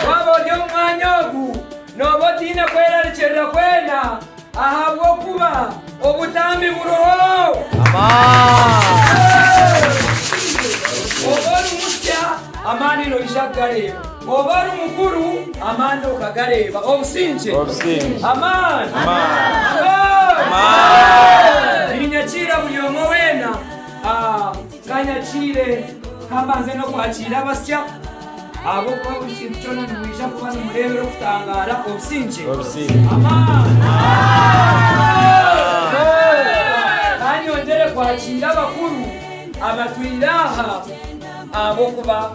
Waaba ori omu mwanya ogu, nooba otaine kwerarikirira kwena ahabw'okuba obutambi buriho. Oba ori musya, amaani noija kugareeba. Oba ari mukuru, amaani okagareeba. Obusingye. Obusingye. Amaani. Amaani. Amaani. Amaani. Niinyakiira buri omwe weena. Ah, ka nyakiire, ka mbanze n'okwakiira abasya, ahabw'okuba buri kintu kyona nimwija kuba nimureebera okutangaara. Obusingye. Obusingye. Amaani. Amaani. Amaani. Ka nyongyere kwakiira abakuru abatwire aha, ahabw'okuba.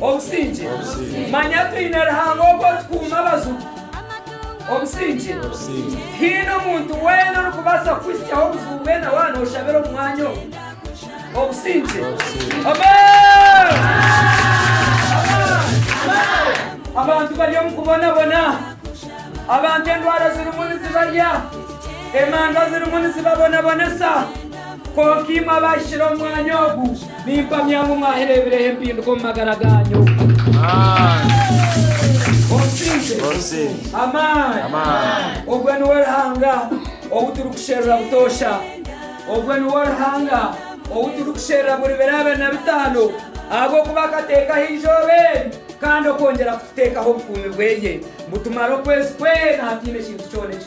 Obusingye. Manya twine Ruhanga ogu otukuuma abajubi. Obusingye. Tihaine omuntu weena orikubaasa kukuhitsyaho obuzibu bwena waaba nooshabira omu mwanya ogu. Obusingye. Abantu bari omu kubonabona. Abantu endwara zirimu nizibarya. Emanga zirimu nizibabonabonesa. Kwonka imwe abahikire omu mwanya ogu, nimpamya ngu mwahireebireho empinduka omu magara gaanyu. Onsinze amaani. Ogwe niwe Ruhanga ou turikusherura butoosha. Ogwe niwe Ruhanga ou turikusherura buri biro abiri na bitaano, ahabw'okuba akateekaho eizooba eri kandi okwongyera kututeekaho obukuumi bwe, ngu tumare okwezi kwena hataine kintu kyona eki.